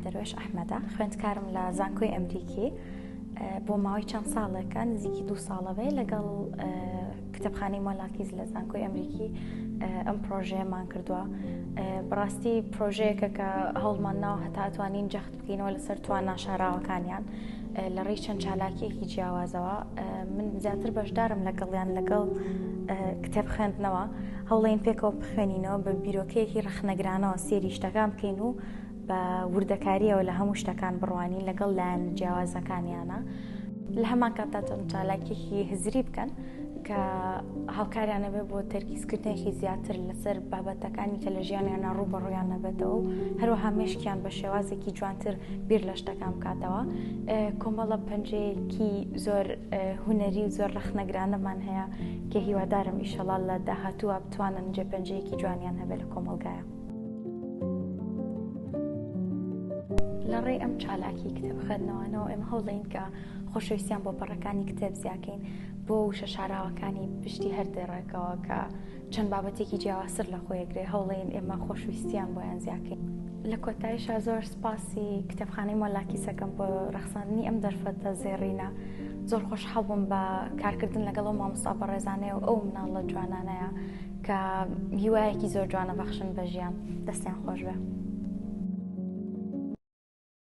دەروێش ئەحمەدا خوێندکارم لە زانکۆی ئەمریکی بۆ ماوەی چەند ساڵێکە نزیکی دوو ساڵەوەی لەگەڵ کتێبخانەی مۆلاکیز لە زانکۆی ئەمریکی ئەم پرۆژەیەمان کردووە بڕاستی پرۆژەیەکە کە هەوڵمان ناو هەتاتوانین جەخت بکەینەوە لەسەر توانا شاراوەکانیان لە ڕێی چەند چالاکیەکی جیاوازەوە من زیاتر بەشدارم لەگەڵیان لەگەڵ کتێب خوێندنەوە هەوڵین پێکەوە بخوێنینەوە بە بیرۆکەیەکی ڕخنەگرانەوە سێری شتەکان بکەین و بە وردەکاریەوە لە هەموو شتەکان بڕوانی لەگەڵ لایەن جیاوازەکانیانە لە هەمان کاتاتۆن چالاکیەکی هزری بکەن کە هاوکاریانە بێ بۆ تەرکیزکردنێکی زیاتر لەسەر بابەتەکانی کە لە ژیانیانە ڕوو بە ڕویان نەبێتەوە و هەروەها مشکیان بە شێوازێکی جوانتر بیر لە شتەکان بکاتەوە کۆمەڵە پەنجەیەکی زۆر هوەری و زۆر ڕخنەگرانەمان هەیە کە هیوادارم ئیشەڵال لە داهاتووە بتوانن جێ پەنجەیەکی جوانیان هەبێت لە کۆمەلگایە لە ڕێی ئەم چالاکی کتێبخەنەوەەوە ئەم هەوڵین کە خۆشەویستیان بۆ پەڕەکانی کتێب زیاکەین بۆ وشە شاراوەکانی پشتی هەر دێڕێکەوە کە چەند بابەتێکی جیاوازتر لە خۆیەگرێ هەوڵێن ئێمە خۆشویستیان بۆیان زیاکەین. لە کۆتایشا زۆر سپاسی کتێبخانەی مۆلاکیسەکەم بۆ ڕەخساندنی ئەم دەرفەتە زێڕینە زۆر خۆشحاڵ بووم بە کارکردن لەگەڵ و مامۆستا بەڕێزانەیە و ئەو مناڵە جوانانەیە کە هیوایەکی زۆر جوانە بەخشن بە ژیان دەستیان خۆش بێ.